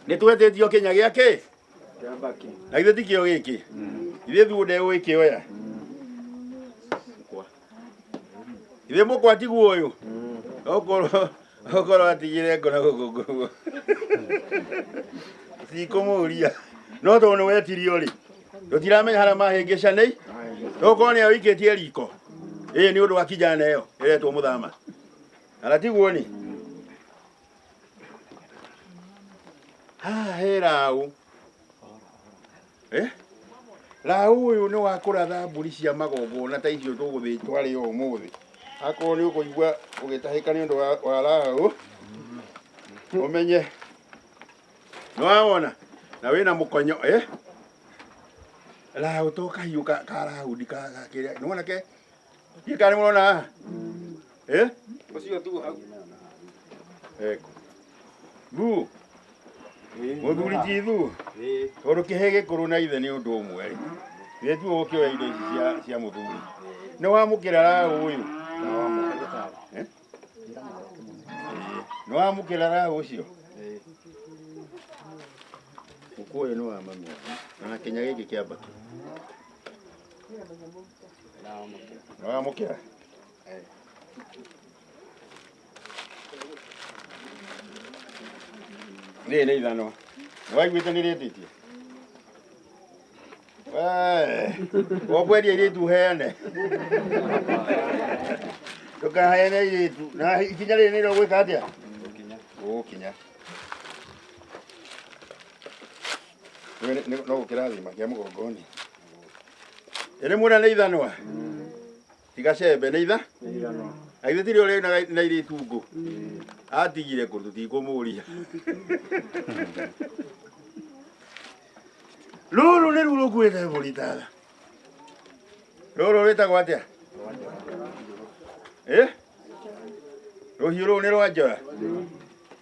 nä twetĩtio kinya gĩa kĩ na ithuĩ ti kĩo gĩkĩ ithuĩ thuo ndegũgĩkĩoya ithuĩ mũkwa tiguo ũyũ okorwo okorwo atigire ngona gũkũ ngũguo cikũmũria no tondũ nĩ wetirio rĩ tũtiramenya harĩa mahĩngĩca nĩ tokorwo nĩ awĩkĩtie riko ĩĩ nĩ ũndũ wa kijana ĩyo ĩretwo mũthama kana tiguo nĩ haha he raũ Eh? raũ ũyũ nĩ wa kũratha mbũri cia magongona ta icio tũgũthĩtwa rĩ ũmũthĩ akorwo nĩ ũkũigua ũgĩtahĩka nĩ ũndũ wa- wa raũ ũmenye nĩwawona na wĩna mũkonyo eh? raũ to kahiũ ka ka raũndi ka ka kĩrĩa nĩwona ke Ndiĩ kana nĩmũrona haha? Eh? Ũcio tu hau. Eko. Thu. Mũthuri ti thu. Tondũ kĩhĩ gĩkũrũ na ithe nĩ ũndũ ũmwe rĩ. Ithe tu ũkĩoya indo ici cia cia mũthuri. Nĩ wamũkĩra raha ũyũ. Eh? Nĩ wamũkĩra raha ũcio. Mũkũyũ nĩ wa mami. Na kenya gĩkĩ kĩambakĩ. Nĩwamũkĩra? Rĩrĩ nĩ ithanwa. Nĩwaiguĩte nĩrĩtĩtie? Wee, ũkwendia airĩtu ũheane. Ndũkaheane airĩtu. Na ikinya rĩrĩ nĩrĩo gwĩka atĩa? Gũkinya. no gukirathima kia mugongoni iri mura ni ithanwa tigacembe ni itha aithe tiri uri na iri tungu atigire kå tutikumũria rũrũ nĩ ruo rũkuĩte mũritara rũrũ rwĩtagwo atĩa rũhiũ rũu nĩ rwa njora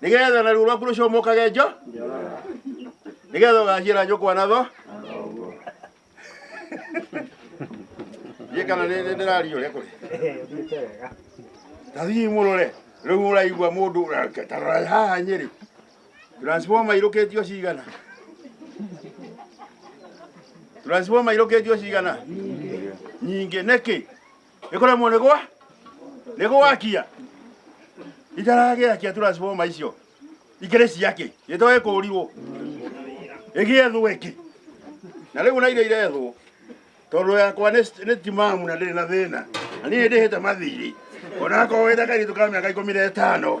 nigetha na ruo rwaku rucumukage njo nigetha ugacira njukwa na tho ye kana ndirario ria kuri tathii murore riu uraigua mundu tarora haha nyeri transformer irukitio cigana transformer irukitio cigana nyingä nä kä ĩkũremwo nĩ gwa nĩ gwakia itaragĩakia turaciboma icio ikĩrĩ ciakĩ gĩtoĩ kũrirwo ĩgĩethwo ĩngĩ na rĩu na iria irethwo tondũ yakwa nĩ nĩ timamu na ndĩrĩ na thĩna na niĩ ndĩhĩte mathirĩ onakorwo wĩta kairĩtu ka mĩaka ikũmi na ĩtano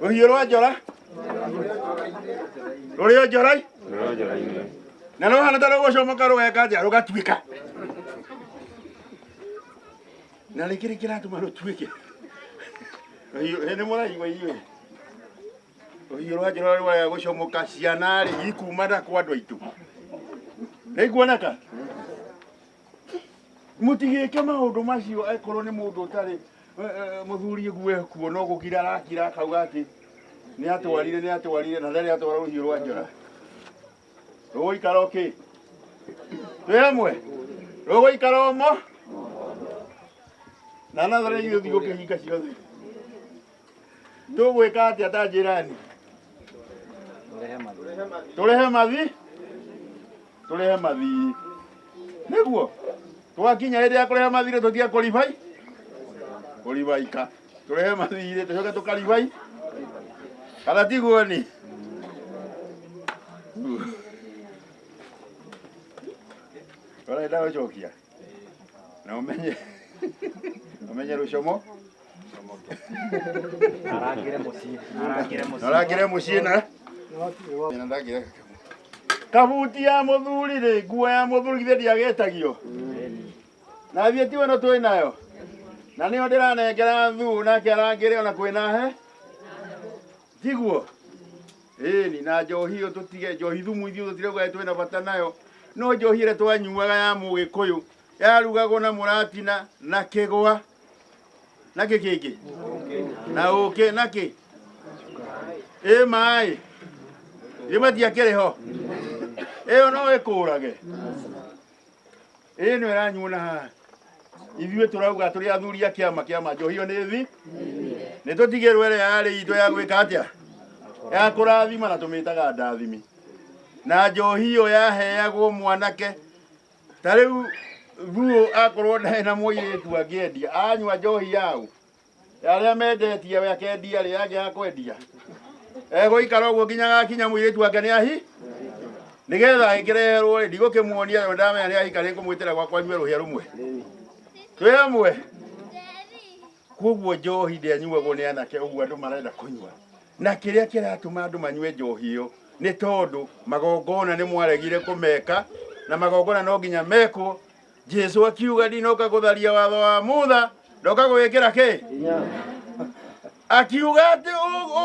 rũhiũ rwa njora rũrĩ o njorai na no hana ta rũgũcomoka rũgeka nja rũgatuĩka na nĩ kĩrĩ kĩratũma rũtuĩke Rũhiũ- ĩ, nĩ mũraigua inyuĩ rũhiũ rwa njora rũrĩa gũcomoka ciana rĩ ikumana kwa andũ aitũ nĩ ikuoneka mutigike maundu macio akorwo ni mundu utari eh, eh, muthuri gue kuo no gukira arakira akauga ati ni atwarire ni atwarire na ndari atwara ruhiu rwa njora ruguikara uki twi amwe ruguikara umo na nathare ithuĩ thiĩ ũkĩhinga ciothe tũgwĩka atĩa ta njĩrani tũrehe mathi tũrehe mathi nĩguo twakinya hĩndĩ ya kũrehe mathi rĩ tũtige kũribai kũribaika tũrehe mathi rĩ tũcoke tũkaribai kana tiguo ni ũrenda gũcokia na ũmenye ũmenye rũcomo arangire mũciĩ arangire na mũciĩ ũrangĩre mũciĩ na na ndangĩre kabuti ya mũthuri rĩ nguo ya mũthuri githĩ ndiagetagio na thiĩ ti weno twĩ nayo na nĩyo ndĩranengera thuu nake arangĩre ona kwĩna he Tiguo? Ĩni, na njohi ĩyo tũtige, njohi thumu ithuĩ tũtirauga ĩ twĩna bata nayo, no njohi ĩrĩa twanyuaga ya mũgĩkũyũ yarugagwo na mũratina na kĩgwa na kĩ kĩngĩ na ũkĩ na kĩ ĩ maĩ gĩbatiakĩrĩ ho ĩyo no ĩkũrage ĩno ĩranyuona haha ithuĩ tũrauga tũrĩ athuri a kĩama kĩama njohi ĩyo nĩ thi nĩ tũtigĩrwo ĩrĩa yarĩ itũ ya gwĩka atĩa ya kũrathima na tũmĩtaga ndathimi na njohi ĩyo yaheagwo mwanake ta rĩu thuo akorwo ndarĩ na mũirĩtu angĩendia anyua njohi yaũ ya arĩa mendetie we akendia rĩ yake ya kwendia egũikara ũguo nginya gakinya mũirĩtu wake nĩ ahi nĩgetha angĩreherwo rĩ ndigũkĩmuonia yo ndamenya nĩ ahika nĩngũmwĩtĩra gwakwa nyue rũhĩa rũmwe twĩ hamwe kuoguo njohi ndĩanyuagwo nĩ anake ũguo andũ marenda kũnyua na kĩrĩa kĩratũma andũ manyue njohi ĩyo nĩ tondũ magongona nĩ mwaregire kũmeka na magongona no nginya mekwo Jesu akiuga ndinoka gutharia watho wa Mutha ndoka gwikira ki akiuga ati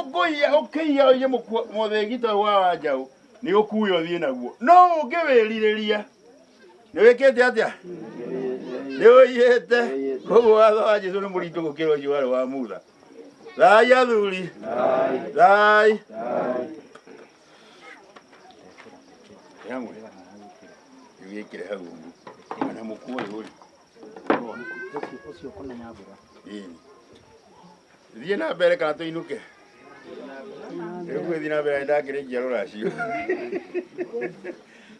ukuiya ukiiya uye muthigito uyu wa wanjaũ ni ukuya uthie naguo no ungiwiririria ni wikite atia ni uyite koguo watho wa Jesu ni muritu gukira ucio wari wa Mutha thai athuri thai Yangwe. Yekire hau. Mwana mkuu yule. Ucio kona nyabura. Eh. Thiĩ na mbere kana tũinũke. Rĩu gwĩthiĩ na mbere ndakĩrĩ njiaro racio.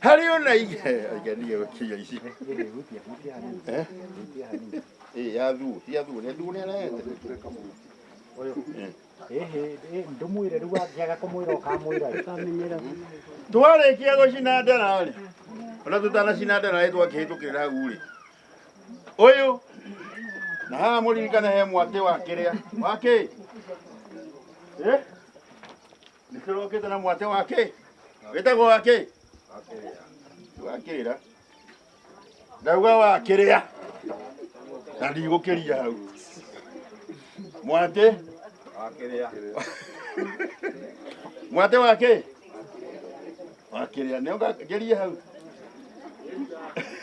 Harĩ o na igĩ. Aiganire gũkinya ici. Eh? Eh, ya thuo, ya thuo, nĩ thuo nĩ arahete. Uyu. Eh. twarĩkia gũcina ndera rĩ ona tũtanacina ndera rĩ twakĩhĩtũkĩrĩra hau rĩ ũyũ na haha mũririkane he mwatĩ wa kĩrĩa wa kĩ Eh? nĩkĩrokĩte na mwatĩ wa kĩ wĩtagwo wa kĩ wakĩrĩra ndauga wakĩrĩa na ndigũkĩria hau mwatĩ wakĩrĩa mwatĩ wakĩ wakĩrĩa nĩ ũngakĩria hau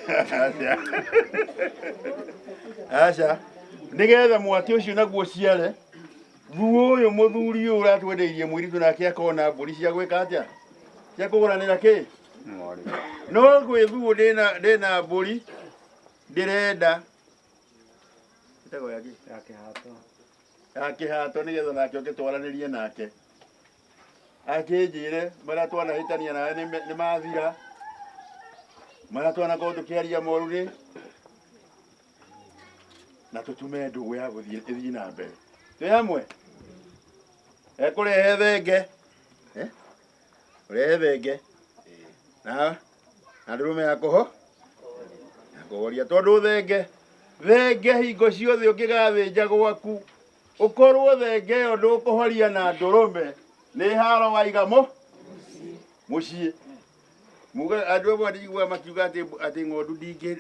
aca aca nĩgetha mwatĩ ũcio naguo ũciare Thuo ũyũ mũthuri ũyũ ũratwendeirie mũirĩtu nake akona mbũri cia gwĩka atĩa cia kũgũranĩra kĩ no gwĩ thuo ndĩna ndĩna mbũri ndĩrenda ĩtagwo ya kĩ? ya kĩhato nĩgetha nake oke twaranĩrie nake akĩnjĩre marĩa twanahĩtania nawe nĩ me- nĩ mathira marĩa twanakorwo tũkĩaria moru nĩ na tũtume ndũgũ ya gũthiĩ ĩthiĩ na mbere twĩ hamwe ekũrehe thenge eh? ũrehe thenge na na ndũrũme ya kũho ya kũhoria tondũ thenge thenge hingo ciothe ũngĩgathĩnja gwaku ũkorwo thenge ĩyo ndũkũhoria na ndũrũme nĩ haro waiga mũ mũciĩ Muga andũ amwe ndĩiguaga makiuga atĩ atĩ ng'ondu ndingĩ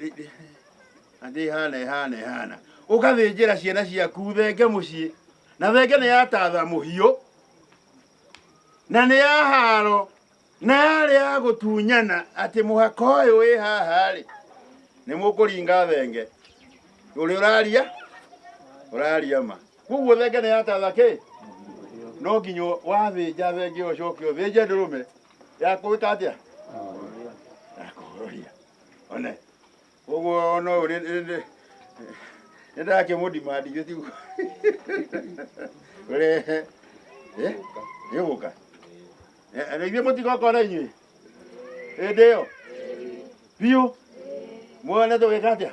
atĩ ĩhana ĩhana ĩhana. Ũgathĩnjĩra ciana ciaku thenge mũciĩ na thenge nĩ yatatha mũhiũ na nĩ ya haro na yarĩ ya gũtunyana atĩ mũhaka ũyũ wĩ haha rĩ nĩ mũkũringa thenge ũrĩa ũraria ũraria ma koguo thenge nĩ yatatha kĩ no nginya wathĩnja thenge ũcoke ũthĩnje ndũrũme yakwĩka atĩa yakũhoria one koguo no nĩ ndakĩmũdimandi gĩ tiguo ũrehe Eh? gĩgũka na ithuĩ mũtigoka na inyuĩ hĩndĩ ĩyo biũ muone tũgĩka atĩa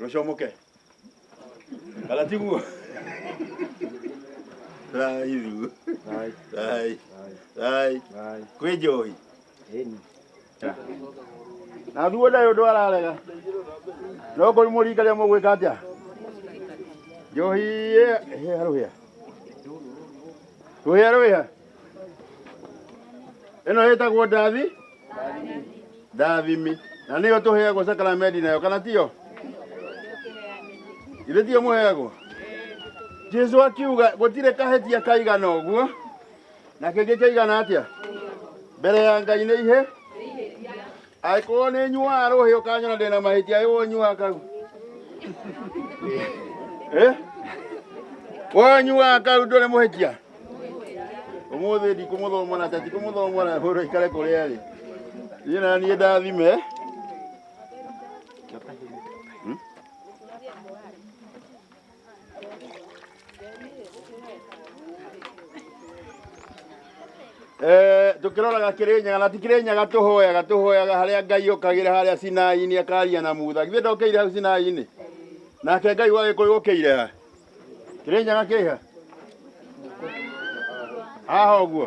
rũcomoke kana tiguo rai thiu Rai, rai rai rai. kwĩ njoi Ĩni. na thuo ndaĩ ũndũ ararega no kũrĩ mũringa rĩa mũgwĩka atĩa njohi ĩ- ĩ- rũhĩa rũhĩa rũhĩa ĩno ĩtagwo ndathi ndathimi na nĩyo tũheagwo sakramendi nayo kana tiyo githĩ tiyo mũheagwo jesu akiuga gũtirĩ kahĩtia kaigana ũguo na kĩngĩ kaigana atĩa mbere ya ngai nĩ ihe angĩkorwo nĩ nyuaga rũhĩ ũkanyona ndĩna mahĩtia ĩwo nyuaga kau Eh? woyo nyuaga kau ndũrĩ mũhĩtia ũmũthĩ ndikũmũthomora ta tikũmũthomora hũrũ ikare kũrĩa rĩ niĩ na niĩ ndathime Eh, tukiroraga kirinyaga na tikirinyaga tuhoyaga tuhoyaga haria ngai ukagire haria sinai-ini akaria na mutha githĩ ndokĩire hau sinai-ini nake ngai wa gĩkũyũ ũkĩire ha kirinyaga kĩha haha ũguo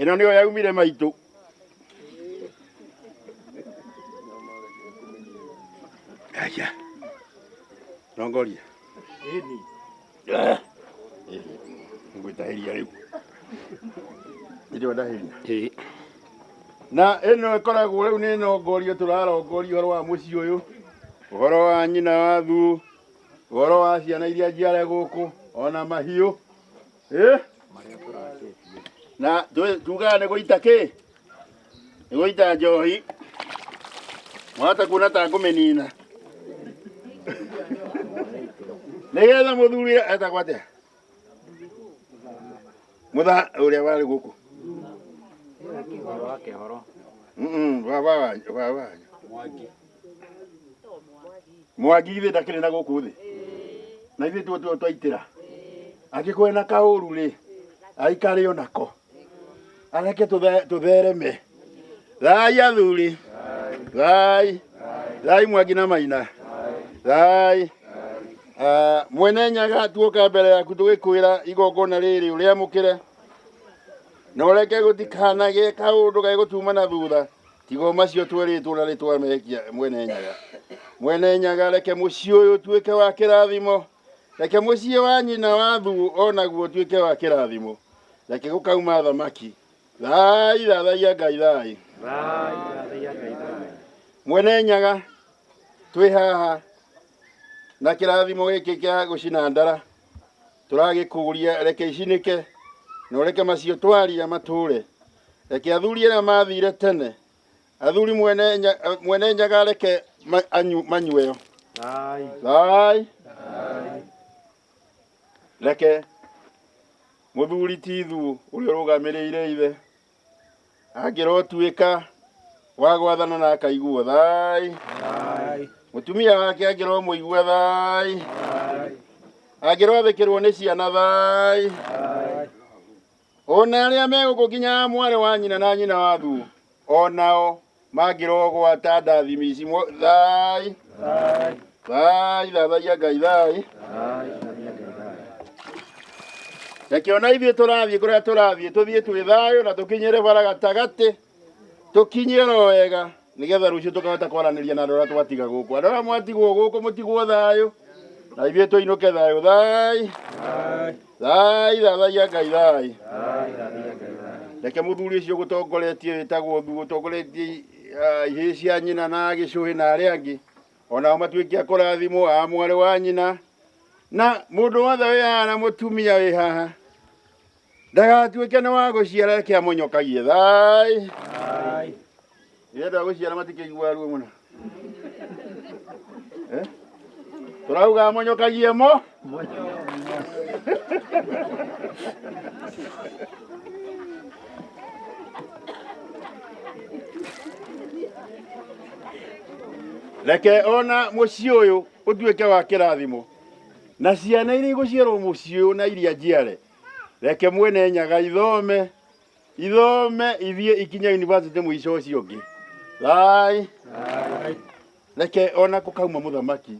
ĩno nĩyo yaumire maitũ aya tongoria ngwĩtahĩria rĩu nĩrĩo ndahĩria na ĩno ĩkoragwo rĩu nĩ nongorio tũrarongoria ũhoro wa mũciĩ ũyũ ũhoro wa nyina wa thuũ ũhoro wa ciana iria njiare gũkũ ona mahiũ Eh? na tũ- tugaga nĩ gũita kĩ nĩ gũita njohi mwahota kuona ta ngũmĩnina nĩgetha mũthuri etagwo atĩa mũtha ũrĩa warĩ gũkũ Mm-mm, baba wanyu baba wanyu mwaki ithe ndakĩrĩ na gũkũ thĩ na ithuĩ tuo tuo twaitĩra angĩkorwo na kaũru rĩ aikare o nako areke tũthe- tũthereme thai athuri thai thai mwangi na maina thai Ah, mwene nyaga tuoka mbere yaku tũgĩkwĩra igongona rĩrĩ ũrĩamũkĩre na ũreke gũtikanagĩe kaũndũ gegũtuma na thutha tiga o macio twerĩtwo na rĩtwa mekia mwene nyaga mwene nyaga reke mũciĩ ũyũ ũtuĩke wa kĩrathimo reke mũciĩ wa nyina wa thugu o naguo ũtuĩke wa kĩrathimo reke gũkauma athamaki thai thathaia ngai thai mwene nyaga twĩ haha na kĩrathimo gĩkĩ kĩa gũcina ndara tũragĩkũria reke icinĩke na ũreke macio twaria matũre Reke athuri arĩa maathiire tene, athuri mwene nya- eh, mwene nyaga reke ma- anyu- manyueo. Thai. Reke mũthuri Tithu ũrĩa ũrũgamĩrĩire ithe angĩrotuĩka wa gwathana na akaiguo thai. Mũtumia wake angĩromũigua thai. Angĩroathĩkĩrwo nĩ ciana thai. O na arĩa megũkũ nginya mwarĩ wa nyina na nyina wa thu o nao mangĩrogwata ndathimi ici mo- thai thai thathaia ngai thai reke ona ithuĩ tũrathiĩ kũrĩa tũrathiĩ tũthiĩ twĩ thayũ na tũkinyĩre bara gatagatĩ tũkinyie ro wega nĩgetha rũciũ tũkahota kwaranĩria na andũ arĩa twatiga gũkũ andũ arĩa mwatigwo gũkũ mũtigwo thayũ na ithuĩ tũinũke thayũ thai thai thathagia ngai thai reke mũthuri ũcio gũtongoretie wĩtagwo thu gũtongoretie ah, ihĩĩ cia nyina na gĩcũhĩ na arĩa angĩ onao matuĩke a kũrathimwo a mwarĩ wa nyina na mũndũ wothe wĩ haha na mũtumia wĩ haha ndagatuĩke nĩ wa gũciara reke amũnyokagie thai rĩrĩa andũ a gũciara matikĩiguaga ruo mũno Eh? tũrauga amũnyokagie mo reke ona mũciĩ ũyũ ũtuĩke wa kĩrathimo na ciana iria igũciarwo mũciĩ ũyũ na iria njiare Reke mwene nyaga ithome ithome ithiĩ ikinya university mũico ũcio ũngĩ thai reke ona kũkauma mũthamaki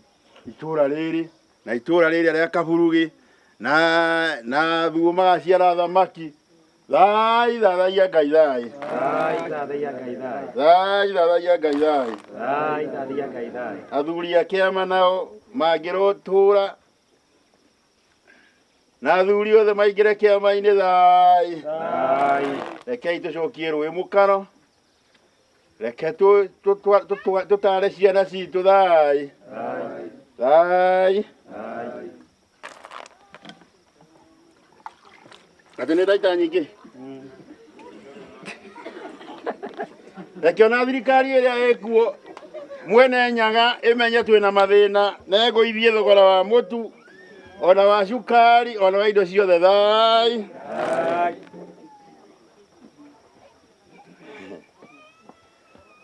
itũra rĩrĩ na itũra rĩrĩa rĩa kaburugi na na thuo magaciara thamaki thai thathaia ngai thai Thai, thathaia Ngai thai. thai thathaia ngai thai Thai, thathaia Ngai thai. athuri a kĩama nao mangĩrotũra na athuri othe maingĩre kĩama-inĩ thai rekei tũcokie rũĩ mũkaro reke tũ- tũtwa- tũtwa- tũtare ciana citũ thai thai Atĩ nĩ ndaita nyingĩ. Rekiona thirikari ĩrĩa ĩkuo mwene nyaga ĩmenye twĩna mathĩna na ĩgũithie thogora wa mũtu ona wa cukari ona wa indo ciothe thai.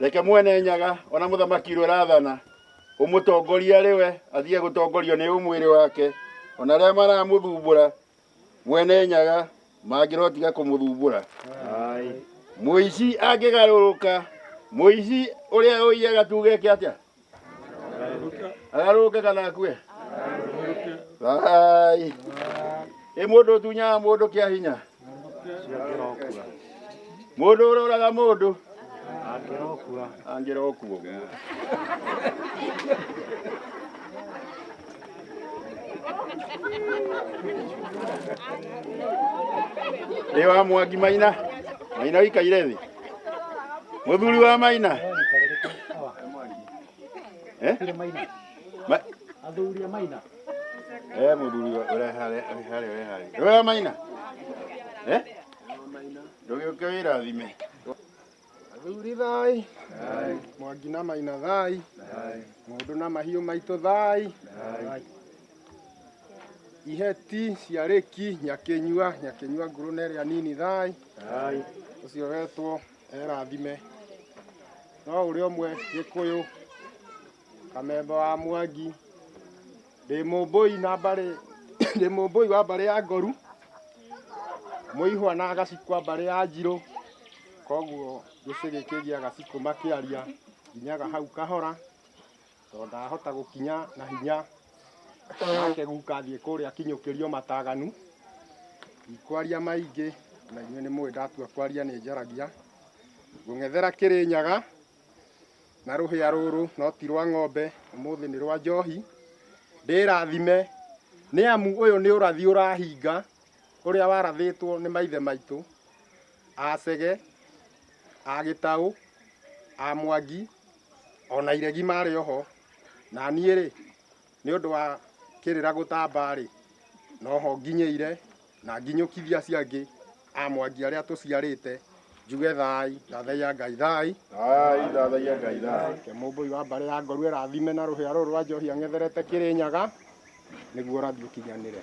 Reke mwene nyaga ona mũthamaki ũrĩa ũrathana ũmũtongoria rĩwe athiĩ gũtongorio nĩ ũmwĩrĩ wake ona arĩa maramũthumbũra Mwene nyaga mangĩrotiga kũmũthumbũra. Mũici angĩgarũrũka, mũici ũrĩa ũiyaga tuge eke atĩa? Agarũrũke kana akue? Ai. Ĩ mũndũ ũtunyaga mũndũ kĩa hinya? mundu uroraga mundu angira okuo guo ri wa mwangi maina maina wikaire thi muthuri wa maina eh Ma- athuri a maina eh muthuri wa- ureha ureha ureha ureha maina eh Ndũgĩũke wĩrathime. Athuri thai. Mwangi na maina thai. Ng'ondu na mahiũ maitũ thai. Iheti ciarĩki nyakĩnyua nyakĩnyua nguru na ĩrĩa nini thai. Ũcio wetwo erathime. No ũrĩa ũmwe gĩkũyũ kamemba wa mwangi. ndĩ mũmbũi na mbarĩ ndĩ mũmbũi wa mbarĩ ya ngoru mũihwa na agacikwa mbarĩ ya njirũ koguo gĩcĩ gĩkĩ gĩa gacikũ makĩaria nginyaga hau kahora tondũ ndahota gũkinya na hinya nake guka athiĩ kũrĩa akinyũkĩrio mataganu ndikwaria maingĩ na inyuĩ nĩ mũĩ ndatua kwaria nĩ njaragia ngũng'ethera kĩrĩnyaga na rũhĩa rũrũ no ti rwa ng'ombe, ũmũthĩ nĩ rwa njohi. Ndĩrathime nĩ amu ũyũ nĩ ũrathi ũrahinga ũrĩa warathĩtwo nĩ maithe maitũ a Chege, a Gĩtaũ, a Mwangi, ona iregi marĩ oho. Na niĩ rĩ, Nĩ ũndũ wa kĩrĩra gũtamba-rĩ, no ho nginyĩire, na nginyũkithie acio angĩ a Mwangi arĩa tũciarĩte, njuge thaai, ndathai ya Ngai thaai. Nake Mũmbũi wa mbarĩ ya Ngoru ĩrathime na rũhĩa rũrũ rwa njohi ang'etherete Kĩrĩnyaga, nĩguo ũrathi ũkinyanĩre.